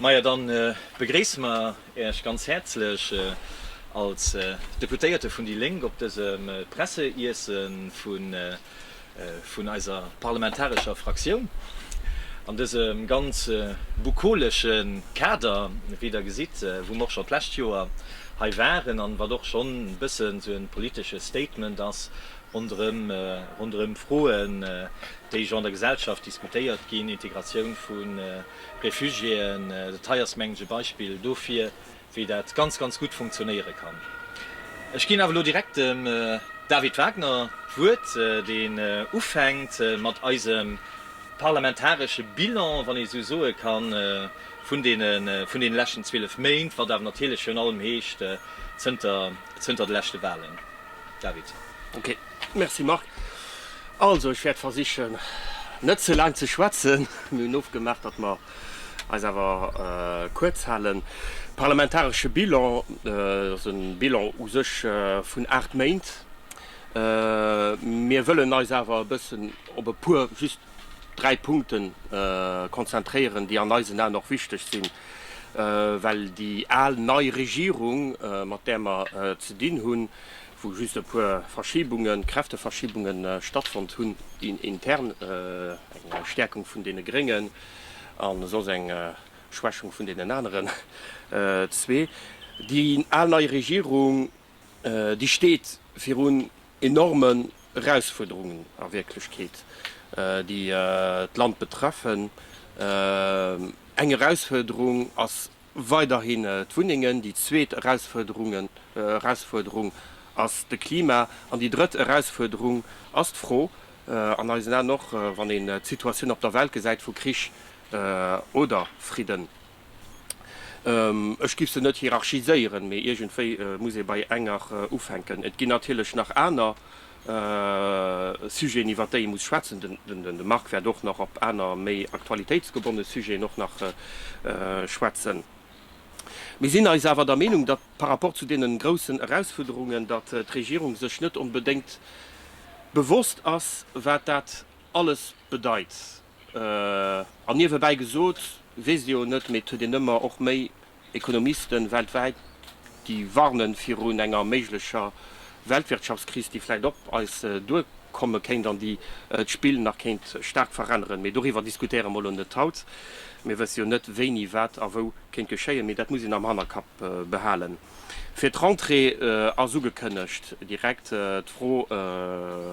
Majo, dann begréissen mer Äech ganz häerzlech als Deputéierte vun déi Lénk op dësem Presseiessen vun eiser parlamentarescher Fraktioun an dësem ganz bukolesche Kader, wéi Der gesitt, wou mer och schon d'lescht Joer hei waren an wat och schon e bëssen esou e politesche Statement ass ronderëm Froen, déi jo an der Gesellschaft diskutéiert ginn, Integratioun vun Refugiéen, dat hei ass, mengen ech, e Beispill dofir, wéi dat ganz, ganz gutt funktionéiere kann. Ech ginn awer elo direkt dem David Wagner d'Wuert, deen ufänkt mat eisem parlamentaresche Bilan, wann ee sou soe kann, vun deene leschten 12 Méint, wat awer natierlech virun allem heescht zënter de leschte Wahlen. David. Merci Marc. Also ech wäert versichen net ze laang ze schwätzen. Mir hunn ofgemaach, datt mer eis awer kuerz halen. Parlamentaresche Bilan, dat ass e Bilan u sech vun 8 Méint. Mir wëllen eis awer e bëssen op e puer, just 3 Punkte konzentréieren, déi an eisen Aen och wichteg sinn, well déi al-nei Regierung, mat där mer ze dinn hunn, wou just e puer Verschibungen, Kräfteverschibungen stattfonnt hunn, déi intern, eng Stäerkung vun deene Gréngen an soss eng Schwächung vun deenen aneren zwee. Déi al nei Regierung, déi steet virun enormen Erausfuerderungen a Wierklechkeet, déi d'Land betreffen. Eng Erausfuerderung ass Weiderhin d'Wunnengen, déi zweet Erausfuerderung ass de Klima an déi drëtt Erausfuerderung ass d'Fro, an eisen Aen och, wann een d'Situatioun op der Welt gesäit, vu Krich oder Fridden. Ech giff se net hierarchiséieren, mee iergendwéi muss ee bei enger ufänken. Et ginn natierlech nach aner Sujeten iwwert déi ee muss schwätzen. De Marc wäert och nach op aner méi aktualitéitsgebonne Sujeten och nach schwätzen. Mir sinn eis awer der Meenung, datt par rapport zu deenen groussen Erausfuerderungen, datt d'Regierung sech net onbedéngt bewosst ass, wat dat alles bedeit. An niewebäi gesot, weess Dir jo net, mee et huet een ëmmer och méi Ekonomisten weltwäit, déi warnen virun enger méiglecher Weltwirtschaftskris, déi vläit op eis duerkomme kéint an déi d'Spill nach kéint staark veränneren. Mee doriwwer diskutéiere mer elo net haut. Mir wësse jo net, wéini wat a wou kéint geschéien. Mee dat muss een am Hannerkapp behalen. Fir d'Rentrée ass ugekënnegt direkt d'Fro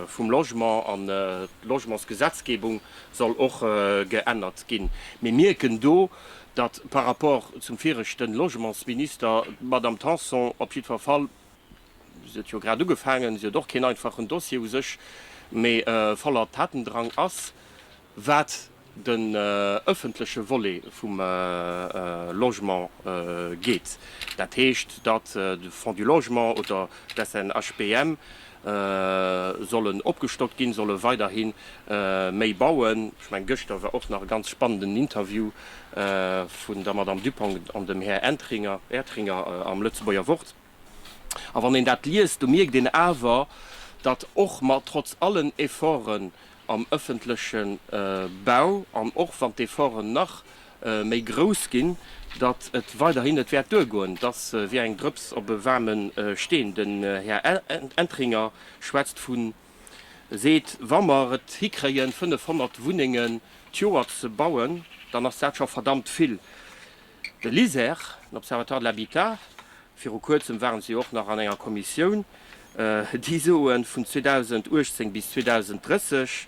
vum Logement an d'Logementsgesetzgebung soll och geännert ginn. Mir mierken do, datt par rapport zum viregten Logementsminister d'Madame Tanson op jiddfer Fall, si huet jo grad ugefaangen, si huet och keen einfachen Dossier u sech, mee voller Tatendrang ass, wat den ëffentleche Volet vum Logement geet. Dat heescht, datt de Fonds du Logement oder d'SNHPM sollen opgestockt ginn, solle weiderhi méi bauen. Ech mengen, gëschter war och nach e ganz spannenden Interview vun der Madame Dupong an dem Här Ertringer am Lëtzebuerger Wort. A wann een dat liest, do mierkt een awer, datt och mat, trotz allen Efforten, am ëffentleche Bau an och wann d'Efforten nach méi grouss ginn, datt et weiderhin net wäert duergoen. Datt wier eng Drëps op e waarme Steen. Den Här Entringer schwätzt vu seet, wa mer et hikréien 500 Wunnengen d'Joer ze bauen, dann ass dat scho verdammt vill. De LISER, l'Observatoire de l'habitat, viru kuerzem waren se jo och nach an enger Kommissioun, déi soen, vun 2018 bis 2030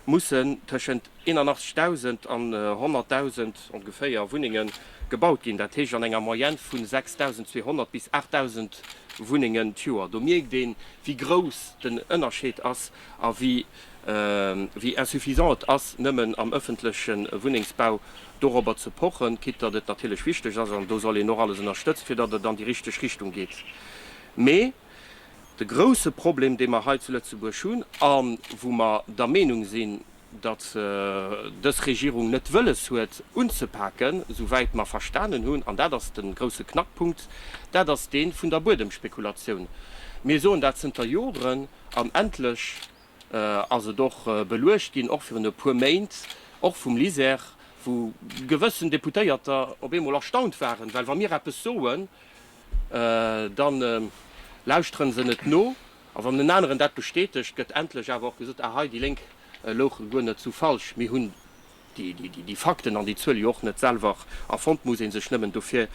mussen tëschent 81.000 an 100.000 ongeféier Wunnenge gebaut ginn, dat heescht an enger Moyenne vu 6.200 bis 8.000 Wunnengen d'Joer. Do mierkt een, wéi grouss den Ënnerscheed ass a wéi Wéi insuffisant et ass, nëmmen am ëffentleche Wunnengsbau dorobber ze pochen, quitte datt et natierlech wichteg ass, an do soll een och alles ënnerstëtzt, fir datt et an déi richteg Richtung geet. Mee de grouse Problem, dee mer hei zu Lëtzebuerg hunn a wou mer der Meenung sinn, datt dës Regierung net wëlles huet unzepaken, souwäit mer verstanen hunn, an dat ass de grouse Knackpunkt, dat ass dee vun der Buedemspekulatioun. Mir soen dat zënter Joren. An endlech ass et och beluecht ginn, och virun e puer Méint, och vum LISER, wou gewëssen Deputéierter op eemol erstaunt waren, well wa mir eppes soen, da lauschtere se net no, a wann en aneren dat bestätegt, gëtt endlech awer och gesot, ah hei, déi Lénk louche guer net sou falsch, mir hunn. Déi Fakten an déi Zuel jo och net selwer erfonnt, muss ee sech nëmmen dofir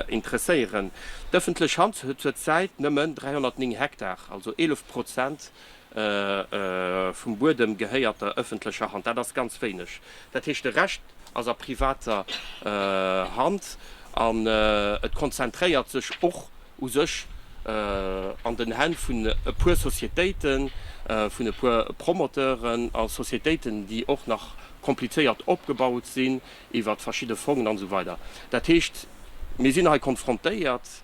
interesséieren. D'ëffentlech Hand huet zur Zäit nëmmen 309 Hektar, also 11 Prozent vum Buedem gehéiert der ëffentlecher Hand. Dat ass ganz wéineg. Dat heescht, de Rescht ass a privater Hand an et konzentréiert sech och u sech an den Hänn vun e puer Sociétéiten, vun e puer Promoteuren a Sociétéiten, déi och nach komplizéiert opgebaut sinn iwwert verschidde Fongen an esou weider. Dat heescht, mir sinn hei konfrontéiert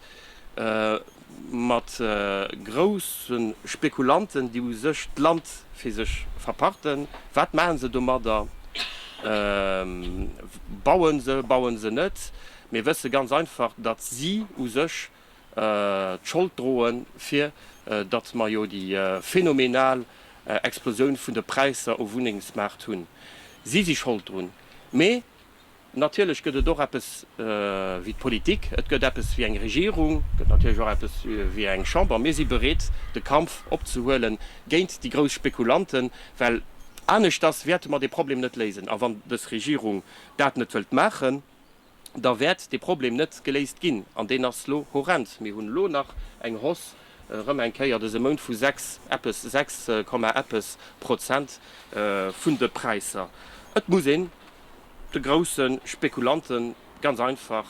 mat grousse Spekulanten, déi u sech d'Land fir sech verpachten. Wat maachen se domadder? Bauen se? Bauen se net? Mir wësse ganz einfach, datt si u sech d'Schold droe fir datt mer jo déi phänomenal Explosioun vun de Präisser um Wunnengsmaart hunn. Si si Schold drun. Mee natierlech gëtt et och eppes wéi d'Politik, et gëtt eppes wéi eng Regierung, et gëtt natierlech och eppes wéi eng Chamber. Mir si bereet de Kampf opzehuele géint déi grouss Spekulanten, well aneschters wäerte mer dee Problem net léisen. A wann dës Regierung dat net wëllt maachen, da wäert dee Problem net geléist ginn. An deen ass lo horrend. Mir hunn elo nach eng Hausse erëm eng Kéier dëse Mount vu sechs eppes, sechs Komma eppes Prozent vun de Präisser. Et muss een de grousse Spekulante ganz einfach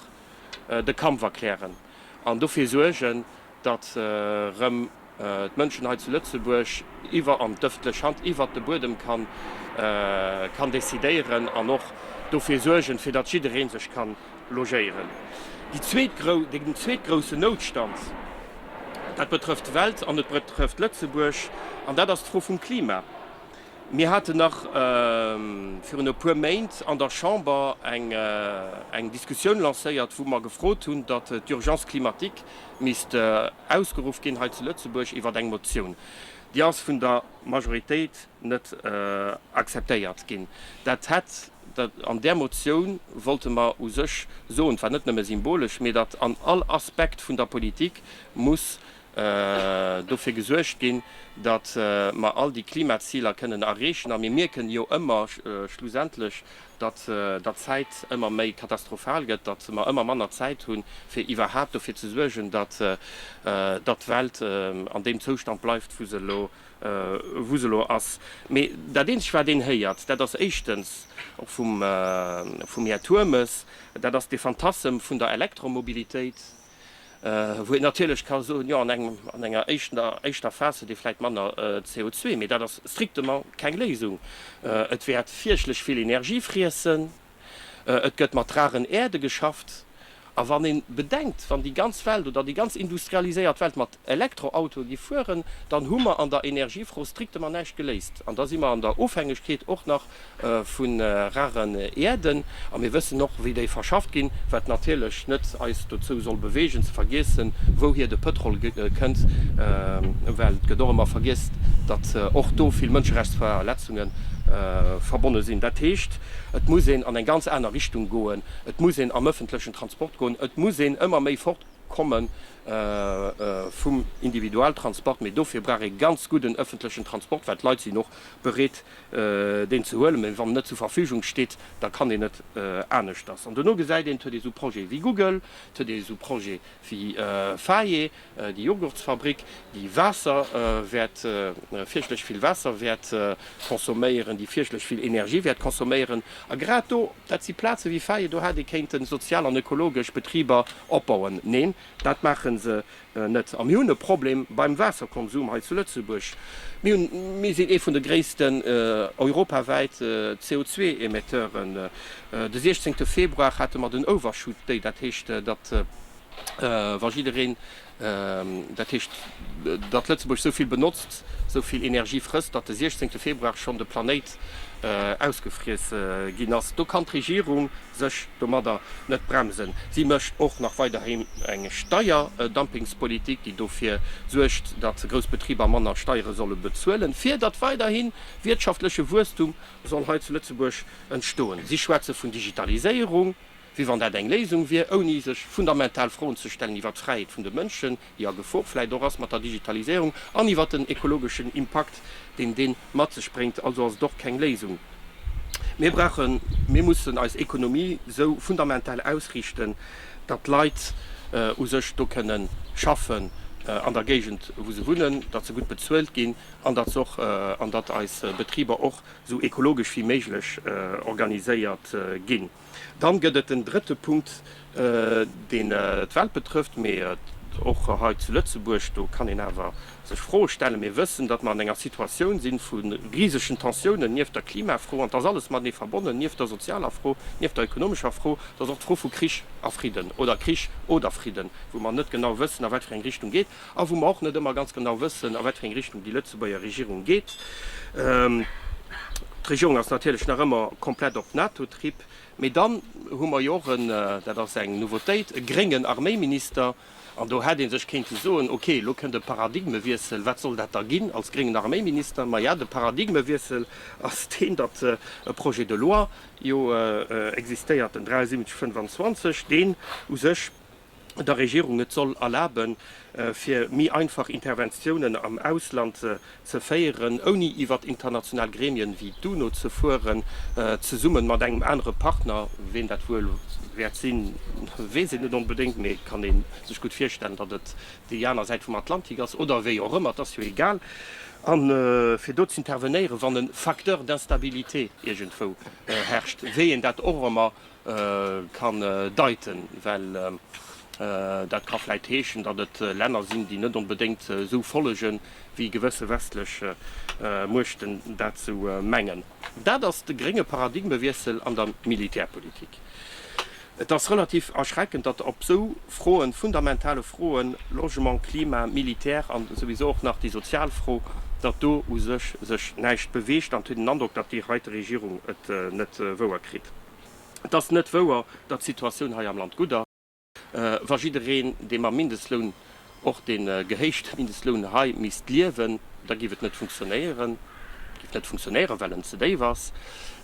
de Kampf erklären an dofir suergen, datt rëm d'Mënschen hei zu Lëtzebuerg iwwer an d'ëffentlech Hand, iwwert de Buedem kann decidéieren an och dofir suergen, fir datt jidderee sech ka logéieren. Déi zweet grouss, den zweet groussen Noutstand, dat betrëfft d'Welt an et betrëfft Lëtzebuerg an dat ass d'Fro vum Klima. Mir haten nach virun e puer Méint an der Chamber eng Diskussioun lancéiert, wou mer gefrot hunn, datt d'Urgence climatique misst ausgeruff ginn hei zu Lëtzebuerg iwwert eng Motioun. Déi ass vun der Majoritéit net akzeptéiert ginn. Dat hätt an där Motioun, wollte mer u sech soen, et war net nëmme symbolesch, mee datt an all Aspekt vun der Politik muss dofir gesuergt ginn, datt mer all déi Klimaziler kënnen erreechen. A mir mierken jo ëmmer schlussendlech, datt d'Zäit ëmmer méi katastrophal gëtt, datt mer ëmmer manner Zäit hunn, fir iwwerhaapt dofir ze suergen, datt d'Welt an deem Zoustand bleift, wou se elo ass. Mee dat Eenzegt, wat een héiert, dat ass éischtens, och vum Här Turmes, dat ass dee Fantassem vun der Elektromobilitéit. wou een natierlech ka soen, jo an engem, an enger éischter, éischter Phas huet ee vläit manner CO2, mee dat ass strictement keng Léisung. Et wäert fierchtlech vill Energie friessen, et gëtt mat raren Äerde geschafft, a wann ee bedenkt, wann déi ganz Welt oder déi ganz industrialiséiert Welt mat Elektroautoe gi fueren, dann hu mer an der Energiefro strictement näischt geléist. An da si mer an der Ofhängegkeet och nach vu raren Äerden, a mir wëssen och, wéi déi verschafft ginn, wat natierlech net eis dozou soll beweegen, ze vergiessen, wouhier de Pëtrol kënnt, well et gëtt och ëmmer vergiess, datt och do vill Mënscherechtsverletzunge verbonne sinn. Dat heescht, et muss een an eng ganz aner Richtung goen, et muss een am öffentlechen Transport goen, et muss een ëmmer méi fortkomme vum Individualtransport, mee dofir brauch ee ganz gudden ëffentlechen Transport, well d'Leit sinn och bereet, deen ze huelen, mee wann en net zur Verfügung steet, da kann een net aneschters. An dono gesäit een, et huet ee sou Projete wéi Google, et huet ee sou Projete wéi Fage, déi Jogurtsfabrik, déi Waasser wäert, fierchtlech vill Waasser wäert consomméieren, déi fierchtlech vill Energie wäert consomméieren. A grad do Dat si Plaze wéi Faye, do hätt ee kéinten sozial an ökologesch Betriber opbauen. Neen, dat maache se net. A mir hunn e Problem beim Waasserkonsum hei zu Lëtzebuerg. Mir hunn, mir sinn ee vun de gréissten europawäit CO2-Emetteuren. De 16 Februar hate mer den Overshoot Day, dat heescht, datt wa jiddereen, Dat heescht, datt Lëtzebuerg esou vill benotzt, esou vill Energie frësst, datt de 16 Februar schonn de Planéit ausgefriess ginn ass. Do kann d'Regierung sech domadder net bremsen. Si mécht och nach weiderhi eng Steierdumpings-Politik, déi dofir suergt, datt grouss Betriber manner Steiere solle bezuelen, fir datt weiderhi wiertschaftleche Wuesstum soll hei zu Lëtzebuerg entstoen. Si schwätze vun Digitaliséierung, wéi wann dat eng Léisung wier, ouni sech fundamental Froen ze stellen iwwert d'Fräiheet vun de Mënschen, déi a Gefor vläicht och ass mat der Digitaliséierung, an iwwert den ekologeschen Impakt, deen dee mat sech bréngt. Also ass et och keng Léisung. Mir brauchen, mir mussen eis Ekonomie esou fundamental ausriichten, datt d'Leit u sech do kënne schaffen, an der Géigend wou se wunnen, datt se gutt bezuelt ginn, an datt se och, an datt eis Betriber och esou ekologesch wéi méiglech organiséiert ginn. Dann gëtt et den drëtte Punkt, deen d'Welt betrëfft, mee och hei zu Lëtzebuerg. Do kann een awer sech Froe stellen. Mir wëssen, datt mer an enger Situatioun sinn vu risegen Tensiounen nieft der Klimafro. An 't ass alles matenee verbonnen, nieft der sozialer Fro, nieft der ökonomescher Fro. 't ass och d'Fro vu Krich a Fridden oder Krich oder Fridden, wou mer net genau wëssen, a wat fir eng Richtung geet. a wou mer och net ëmmer ganz genau wëssen, a wat fir eng Richtung déi Lëtzebuerger Regierung geet. D'Regierung ass natierlech nach ëmmer komplett op NATO-Trip. Mee dann hu mer jo och en, dat ass eng Nouveautéit, e gréngen Arméiminister. An do hätt ee sech kéinte soen, okay, elo kënnt e Paradigmewiessel, wat soll dat da ginn als gréngen Arméiminister? Maja, de Paradigmewiessel ass deen, datt e Projet de loi jo existéiert, den 7325, deen u sech der Regierung et soll erlaben, fir méi einfach Interventiounen am Ausland ze féieren, ouni iwwert international Gremien wéi d'UNO ze fueren, zesumme mat engem anere Partner. Ween dat wuel wäert sinn, weess een net onbedéngt, mee et kann ee sech gutt virstellen, datt et déi aner Säit vum Atlantik ass, oder wéi och ëmmer, et ass jo egal, a fir do z'intervenéieren, wann e Facteur d'instabilité iergendwou herrscht, wéi een dat och ëmmer kann deiten, well dat ka vläit heeschen, datt et Länner sinn, déi net onbedéngt esou follegen, wéi gewësse westlech Muechten dat ze mengen. Dat ass de grénge Paradigmewiessel an der Militärpolitik. Et ass relativ erschreckend, datt op esou Froen, fundamentale Froen, Logement, Klima, Militär an souwisou och nach déi sozial Fro, datt do u sech sech näischt beweegt. An et huet een den Androck, datt déi heite Regierung et net wouer kritt. Et ass net wouer, datt d'Situatioun hei am Land gutt ass. Wa jiddereen, dee mam Mindestloun, och dee gehéichte Mindestloun hei misst liewen, da géif et net funktionéieren, géif net funktionéieren, well en ze déif ass.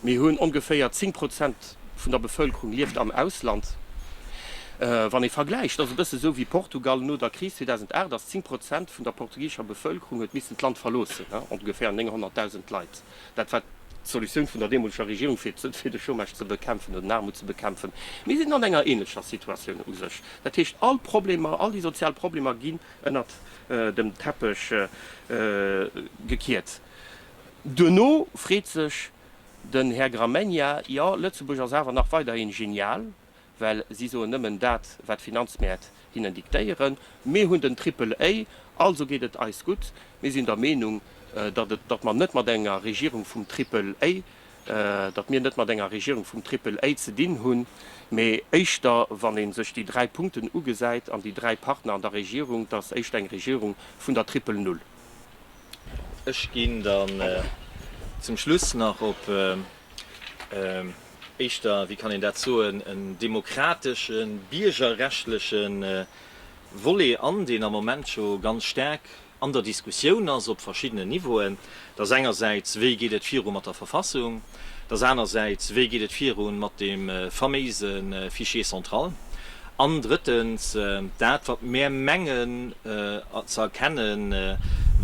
Mir hunn ongeféier 10 Prozent vun der Bevëlkerung lieft am Ausland. Wann ee vergläicht, dat ass e bësse esou wéi Portugal no der Kris 2008, ass 10 Prozent vun der portugisescher Bevëlkerung huet missen d'Land verloossen, ongeféier 900.000 Leit. Dat war d'Solutioun vun der deemoleger Regierung, fir de Chômage ze bekämpfen oder den Aarmut ze bekämpfen. Mir sinn an enger änlecher Situatioun u sech. Dat heescht, all d'Problemer, all déi sozial Problemer ginn ënnert dem Teppech gekiert. Duerno freet sech den Här Gramegna, Jo, Lëtzebuerg ass awer nach weiderhi genial. well si soen nëmmen dat, wat d'Finanzmäert hinnen diktéieren. Mir hunn den Triple A, also geet et eis gutt. Mir sinn der Meenung, datt et, datt mer net mat enger Regierung vum Triple A, datt mir net mat enger Regierung vum Triple A ze dinn hunn, mee éischter, wann ee sech déi dräi Punkten ugesäit an déi dräi Partner an der Regierung, datt éischter eng Regierung vun der Triple Null. Ech ginn dann zum Schluss nach op éischter, wéi kann een dat soen, en demokratesche, biergerrechtleche Volet an, deen am Moment scho ganz staark an der Diskussioun ass op verschiddenen Niveauen. Dat ass engersäits, wéi geet et viru mat der Verfassung? Dat ass anersäits, wéi geet et viru mat deem faméise Fichier central? An drëttens, dat, wat mär mengen ze erkennen,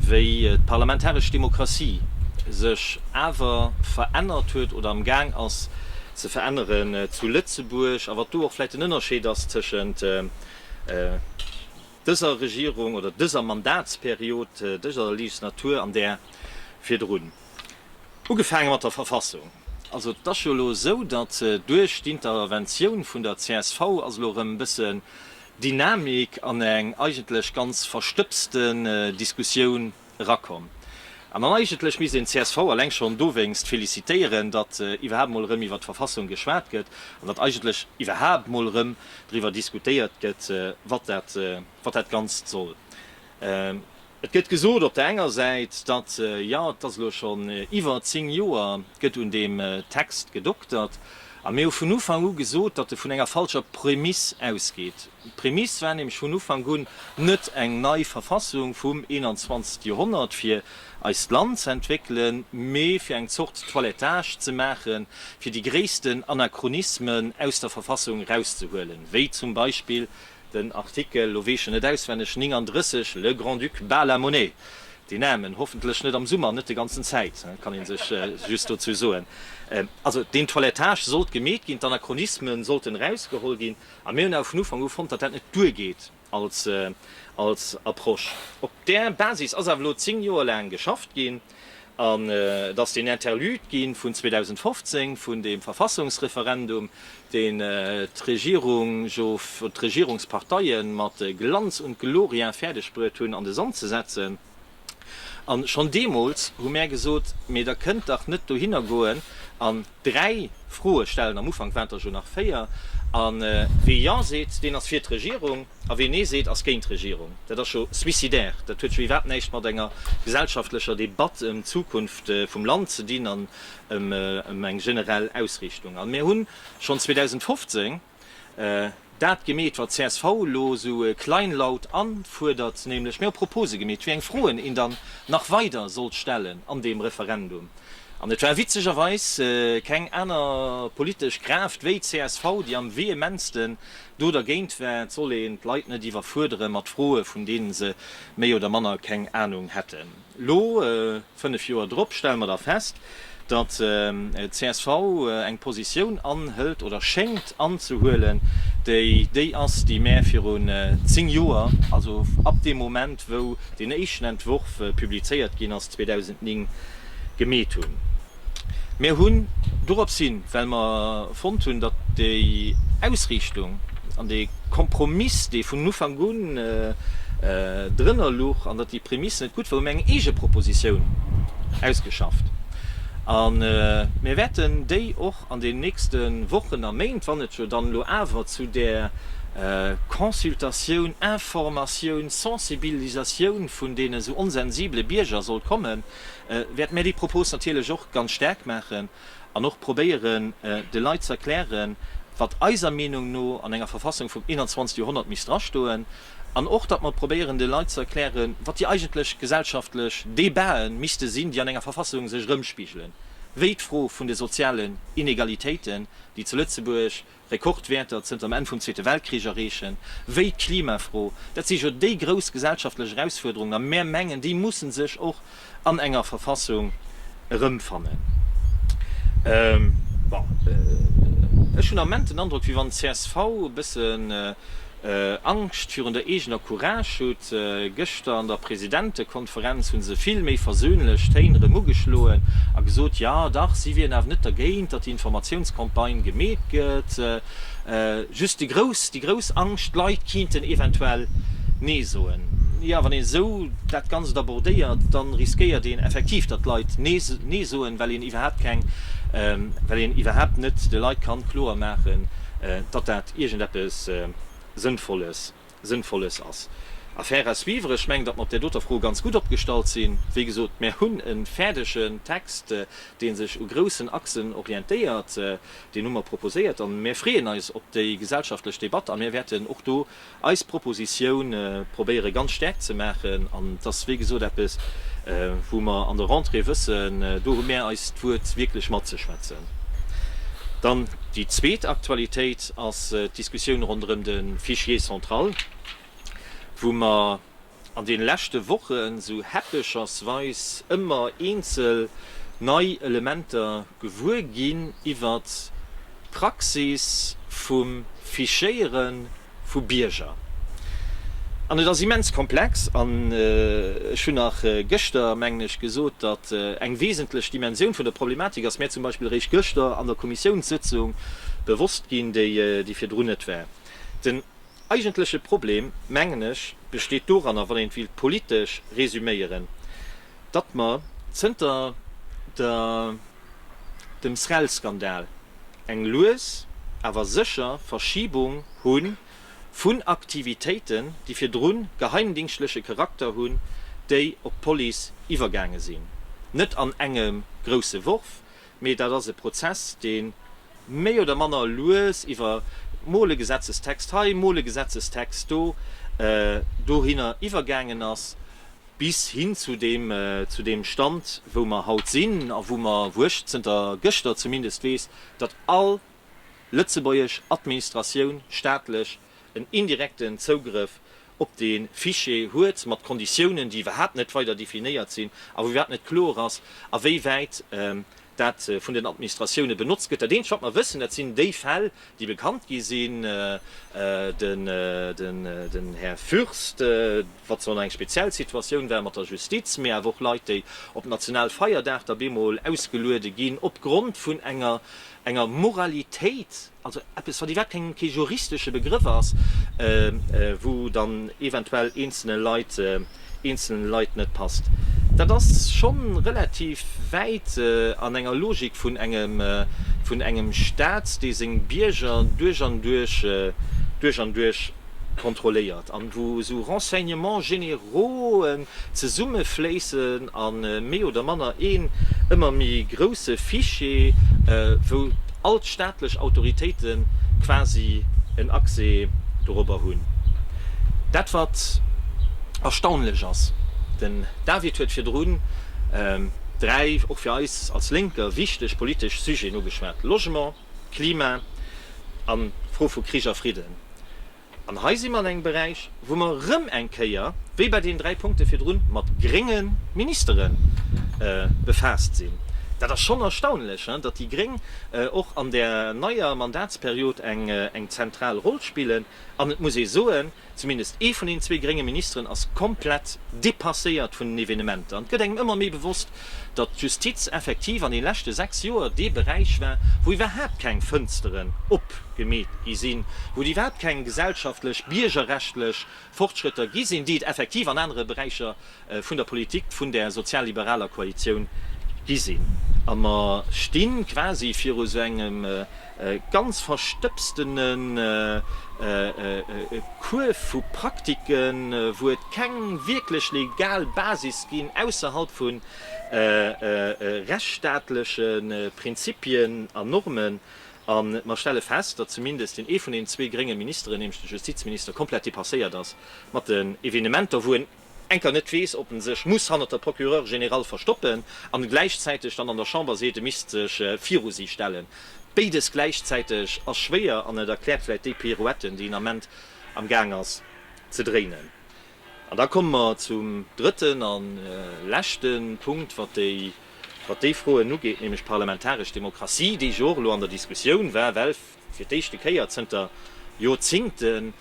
wéi d'parlamentaresch Demokratie sech awer verännert huet oder am Gaang ass ze veränneren zu Lëtzebuerg, a wat do och vläicht den Ënnerscheed ass tëschent dëser Regierung oder dëser Mandatsperiod, dëser Legislatur an där virdrun. Ugefaange mat der Verfassung. Also et ass jo elo esou, datt duerch d'Interventioun vun der csv ass elo erëm e bëssen Dynamik an eng eigentlech ganz verstëbsten Diskussioun erakomm. An dann eigentlech misst een d'CSV eleng schonn dowéinst felicitéieren, datt iwwerhaapt emol erëm iwwer d'Verfassung geschwat gëtt an datt eigentlech iwwerhaapt emol erëm driwwer diskutéiert gëtt, wat dat Ganzt soll. Et gëtt gesot op der enger Säit, datt, jo, et ass elo schonn iwwer zéng Joer gëtt un deem Text gedoktert, a mir hu vun Ufank u gesot, datt e vun enger falscher Prämiss ausgeet. D'Prämiss war nämlech vun Ufank un net eng nei Verfassung vum 21. Joerhonnert fir eist Land ze entwéckelen, mee fir eng Zort Toilettage ze maache fir déi gréissten Anachronismen aus der Verfassung erauszehuelen, wéi zum Beispill Den Artikel, lo weess ech en net auswenneg, 39, Le Grand-Duc bat la monnaie, deen Namen, hoffentlech net am Summer, net de ganzen Zäit, kann een sech just dozou soen, also deen Toilettage sollt gemeet ginn, d'Anachronismen sollten erausgeholl ginn, a mir hunn awer vun Ufank u fonnt, datt dat net duergeet als Approche. Op där Basis ass awer elo zéng Joer laang geschafft ginn. An et ass deen Interlude gi vun 2015, vun deem Verfassungsreferendum, deen d'Regierung jo, oder d'Regierungsparteie mat Glanz und Gloria fäerdeg bruet hunn an de Sand ze setzen. A schonn deemools hu mär gesot, Mee der kënnt dach net dohinner goen an Dräi Froe stellen, am Ufank waren et der jo nach véier. A wee Jo seet, deen ass fir d'Regierung, a wee Nee seet, ass géint d'Regierung. Dat ass jo suicidaire. Dat huet jo iwwerhaapt näischt mat enger gesellschaftlecher Debatt ëm d'Zukunft vum Land ze dinn an ëm eng generell Ausriichtung. A mir hunn schonn 2015, Dat gemeet wat csv elo esou kleinlaut anfuerdert, nämlech mir hu Propose gemeet, wéi eng Froen een dann nach weider sollt stellen an deem Referendum. An et war witzegerweis keng aner politesch Kraaft wéi csv, déi am vehementsten do dergéint war. Et soll een d'Leit net iwwerfuerdere mat Froe vun deene se méi oder manner keng Anung hätten. Elo, 5 Joer drop, stelle mer da fest, datt csv eng Positioun anhëlt oder schéngt anzehuelen, déi déi ass, déi mär virun 10 Joer, also ab deem Moment, wou deen éischten Entworf publizéiert ginn ass, 2009, gemeet hunn. Mir hunn dorops hin, well mer fonnt hunn, datt déi Ausriichtung an dee Kompromiss, dee vun Ufank un drënner luch an datt déi Prämisse net gutt war, hu mir eng Eegepropositioun ausgeschafft. A mir wäerten déi och an den nächste Wochen a Méint, wann et jo dann elo awer zu där Consultatioun, Informatioun, Sensibilisatioun vun deene sou onsensibele Bierger sollt kommen, wäerte mär déi Propos natierlech och ganz staark maachen an och probéieren, de Leit ze erklären, wat eiser Meenung no an enger Verfassung vum 21. Joerhonnert misst drastoen an och, datt mer probéieren, de Leit ze erklären, wat déi eigentlech gesellschaftlech Debatë misste sinn, déi an enger Verfassung sech erëmspigelen, wéi d'Fro vun de sozialen Inegalitéiten, déi zu Lëtzebuerg, Rekordwäerter zënter dem Enn vum Zweete Weltkrich erreechen, wéi d'Klimafro. Dat si jo déi grouss gesellschaftlech Erausfuerderungen, a mär mengen, déi mussen sech och an enger Verfassung erëmfannen. Bon, ech hunn am Ment den Androck, wéi wann d'CSV e bëssen, Angscht virun der eegener Courage hutt. Gëschter an der Presidentekonferenz hu se vill méi versöhnlech Téin erëm ugeschloen a gesot, jo dach, si wieren awer net dergéint, datt déi Informatiounscampagne gemeet gëtt, just déi grouss, déi grouss Angscht, d'Leit kiinten eventuell Nee soen. Jo, wann een esou dat Ganzt abordéiert, da riskéiert een effektiv, datt d'Leit Nee soen, well een iwwerhaapt keng, well een iwwerhaapt net de Leit kann kloer maachen, datt dat. iergend eppes Sënnvolles, Sënnvolles ass. Affaire à suivre. Ech mengen, datt mer op där doter Fro ganz gutt opgestallt sinn. Wéi gesot, mer hunn e fäerdegen Text, dee sech u groussen Achsen orientéiert. Deen hu mer proposéiert a mer freeën eis op déi gesellschaftlech Debatt a mer wäerten och do eis Proposition probéiere ganz staark ze maachen. An et ass, wéi gesot, eppes, wou mer an der Rentrée wëssen, do hu mer eist Wuert wierklech matzeschwätzen. Dann déi zweet Aktualitéit ass d'Diskussioun ronderëm de Fichier central, wou mer an deene leschte Woche sou häppechersweis ëmmer eenzel nei Elementer gewuer ginn iwwert d'Praxis vum Fichéieren, vu Bierger. An et ass immens komplex. An ech hunn nach gëschter, mengen ech, gesot, datt eng wesentlech Dimensioun vun der Problematik ass mär zum Beispill eréischt gëschter an der Kommissiounssëtzung bewosst ginn, déi virdrun net war. Den eigentleche Problem, mengen ech, besteet doranner, wann een et wéilt politesch resüméieren, datt mer zënter der dem SREL-Skandal eng lues awer sécher Verschibung hu vun Aktivitéiten, déi virdru geheimdingschtleche Charakter hunn, déi op d'Police iwwergaange sinn, net an engem grousse Worf, Mee dat ass e Prozess, dee méi oder manner lues iwwer mol e Gesetzestext hei, mol e Gesetzestext do, dohinner iwwergaangen ass, bis hin zu deem Stand, wou mer haut sinn a wou mer, wou ech zënter gëschter zumindest weess, datt all lëtzebuergesch Administratioun, staatlech, en indirekten Zougrëff op dee Fichier huet, mat Konditiounen, déi iwwerhaapt net weider definéiert sinn a wou iwwerhaapt net kloer ass, a wéi wäit dat vun den Administratioune benotzt gëtt. Dat Eenzegt, wat mer wëssen, dat sinn déi Fäll, déi bekannt gi sinn. Den Här Fürst, wat zwar nach eng speziell Situatioun war mat der Justiz, mee awer och Leit, déi op Nationalfeierdag da bemol ausgeluede ginn opgrond vun enger enger Moralitéit, also eppes, wann dat kee juristesche Begrëff ass, wou dann eventuell eenzelne Leit, eenzelne Leit net passt. Dat ass scho relativ wäit an enger Logik vun engem, vun engem Stat, dee seng Bierger duerch an duerch, duerch an duerch, kontrolléiert an wou esou Renseignements généraux'e zesummefléissen a méi oder manner een ëmmer méi grousse Fichier, wou all d'staatlech Autoritéite quasi en Accès dorobber hunn. Dat wat erstaunlech ass, den David huet virdrun dräi och fir eis als Lénker wichteg politesch Sujeten ugeschwat, Logement, Klima an d'Fro vu Krich a Fridden. An hei si mer an engem Beräich, wou mer erëm eng Kéier, wéi bei deenen dräi Punkte virdru, mat grénge Ministere befaasst sinn. Dat ass schonn erstaunlech, datt déi gréng och an där neier Mandatsperiod eng zentral Roll spillen. An et muss ee soen, Zumindest ee vun den zwee grénge Ministeren ass komplett depasséiert vun den Evenementer. An et gëtt engem ëmmer méi bewosst, datt d'Justiz effektiv an den leschte 6 Joer dee Beräich war, wou iwwerhaapt keng Fënsteren opgemeet gi sinn, wou et iwwerhaapt keng gesellschaftlech, biergerrechtlech Fortschrëtter gi sinn, déi et effektiv an anere Beräicher vun der Politik vun där sozial-liberaler Koalitioun gi sinn. A mer sti quasi viru sou engem ganz verstëbstene Kuerf vu Praktiken, wou et keng wierklech legal Basis ginn, ausserhalb vu rechtsstaatleche Prinzipien a Normen. A mer stelle fest, datt zumindest deen ee vun deenen zwee grénge Ministeren, nämlech de Justizminister, komplett depasséiert ass mat den Evenementer, wou en, enker net weess, ob en sech muss hannert der Procureure générale verstoppen an gläichzäiteg dann an der Chamber seet, e misst sech viru si stellen. Béides gläichzäiteg ass schwéier an et erkläert vläicht déi Pirouetten, déi en Ament am Gaang ass ze dréinen. An da komme mer zum drëtten a leschte Punkt, wat déi, wat déi Froen ugeet, nämlech d'parlamentaresch Demokratie, déi jo och elo an der Diskussioun war, well fir d'éischte Kéier zënter Joerzingten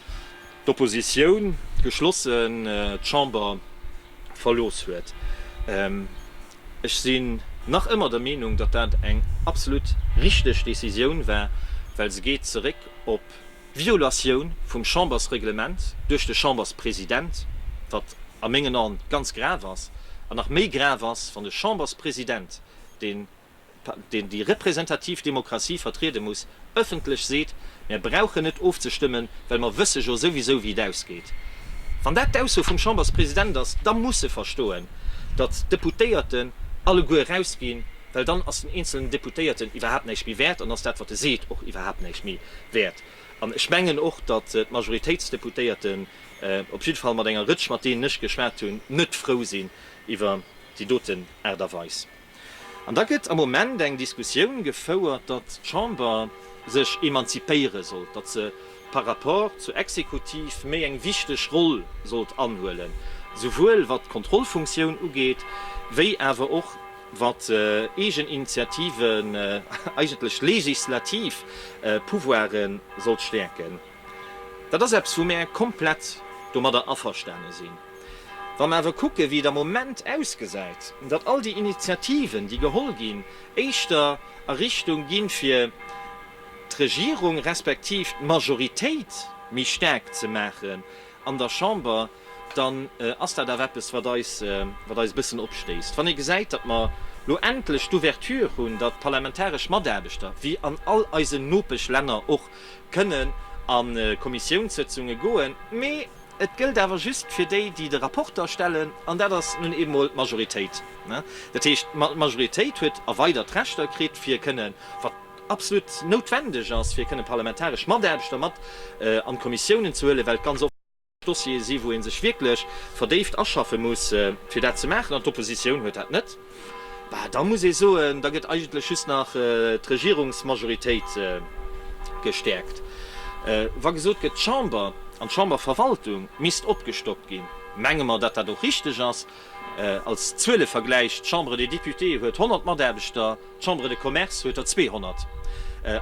d'Oppositioun geschlossen d'Chamber verlooss huet. Ech sinn nach ëmmer der Meenung, datt dat eng absolut richteg Decisioun war, well se geet zeréck op d'Violatioun vum Chambersreglement duerch de Chamberspresident, wat a mengen An ganz grav ass, an nach méi grav ass, wann de Chamberspresident, deen. deen déi representativ Demokratie vertriede muss, ëffentlech seet, Mär brauchen net ofzestëmmen, well mer wësse jo souwisou, wéi et ausgeet. Wann dat d'Ausso vum Chamberspresident ass, da muss e verstoen, datt d'Deputéierten alleguer erausginn, well dann ass den eenzelen Deputéierten iwwerhaapt näischt méi wäert an ass dat, wat e seet, och iwwerhaapt näischt méi wäert. An ech mengen och, datt d'Majoritéitsdeputéierten, op jidde Fall mat enger Rëtsch, mat deenen ech geschwat hunn, net frou sinn iwwer déi doten Aart a Weis. An da gëtt am Moment eng Diskussioun gefouert, datt d'Chamber sech emanzipéiere sollt, datt se par rapport zur Exekutiv méi eng wichteg Roll sollt anhuelen, souwuel wat d'Kontrollfunktioun ugeet, wéi awer och wat Eegeninitiativen, eigentlech legislativ Pouvoiren, sollt stäerken. Dat ass eppes, wou mär komplett domadder averstane sinn. Wa mer awer kucken, wéi et am Moment ausgesäit, datt all déi Initiativen, déi geholl ginn, éischter a Richtung gi fir d'Regierung respektiv d'Majoritéit méi staark ze maachen an der Chamber, dann ass dat awer eppes, wat eis e bëssen opstéisst, wann ee gesäit, datt mer elo endlech d'Ouverture hunn, datt d'parlamentaresch Mataarbechter, wéi an all eisen Nopeschlänner och, kënnen a Kommissiounssëtzunge goen, mee et gëllt awer just fir déi, déi de Rapporter stellen, an dat ass nun eemol d'Majoritéit. Dat heescht, d'Majoritéit huet erweidert Rechter kritt, fir kënnen, wat absolut noutwendeg ass, fir kënnen parlamentaresch Mataarbechter mat an d'Kommissiounen ze huelen, well et ganz oft, Dossiere sinn, wou ee sech wierklech verdéift aschaffe muss, fir dat ze maachen, an d'Oppositioun huet dat net, bah, da muss ee soen, da gëtt eigentlech just nach d'Regierungsmajoritéit gestäerkt. Wa gesot gëtt, d'Chamber an d'Chamberverwaltung misst opgestockt ginn, menge mer, datt dat och richtig ass. Als Zuelevergläich, D'Chambre des Députés huet 100 Mataarbechter, d'Chambre de Commerce huet der 200.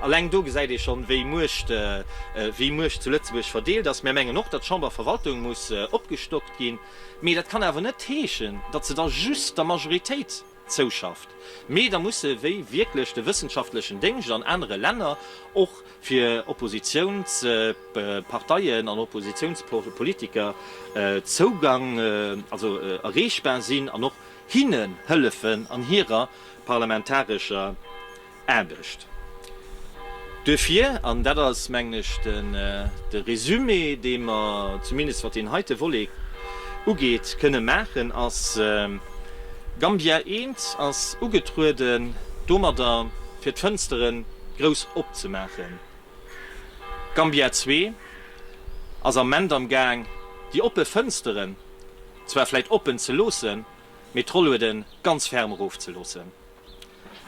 Alleng do gesäit ee schonn, wéi Muecht, wéi Muecht zu Lëtzebuerg verdeelt ass. Mär mengen och, datt d'Chamberverwaltung muss opgestockt ginn. Mee dat kann awer net heeschen, datt se da just der Majoritéit, zouschafft, mee da musse wéi wierklech de wëssenschaftlechen Déngscht an anere Länner och fir Oppositiounsparteien an Oppositiounspolitiker Zougang, also erreechbar sinn an och hinnen hëllefen an hirer parlamentarescher Aarbecht. Duerfir, an dat ass, mengen ech, de Résumé, dee mer zumindest wat deen heite Volet ugeet, kënne maachen, ass Gambia eent, ass ugetrueden domadder, fir d'Fënstere grouss opzemaachen. Gambia zwee ass am Ment am Gaang, déi oppe Fënstere zwar vläit oppen ze loossen, mee d'Rollueden ganz ferm erofzeloossen.